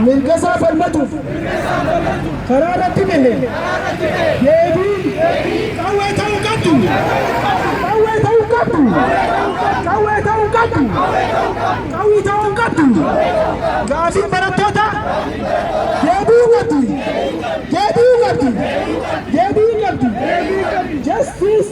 mirgasaa falmatuuf karaa irratti bahe deebiin qawwee ta'uu qabdu qawwee ta'uu qabdu qawwee ta'uu qabdu qawwii ta'uu qabdu gaafiin barattoota deebi'uu qabdi deebi'uu qabdi deebi'uu qabdi justice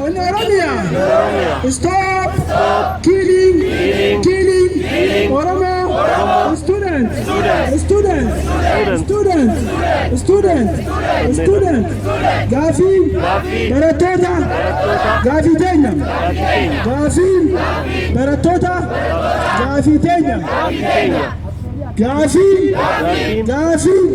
On Oromia! Stop! Killing! Killing! Oromo! Student! Student! Student! Student! Student! Gaafii! Barattoota! Gaafii teenya! Gaafii! Barattoota! Gaafii teenya! Gaafii! Gaafii!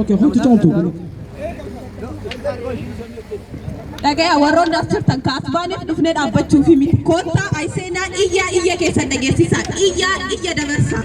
Okay, hundi caaltu. Dhagaya warroonni as jirtan ka as baaneef dhufnee dhaabbachuuf miti. Koottaa ay seenaa iyyaa iyya keessan dhageessisaa. Iyyaa iyya dabarsaa.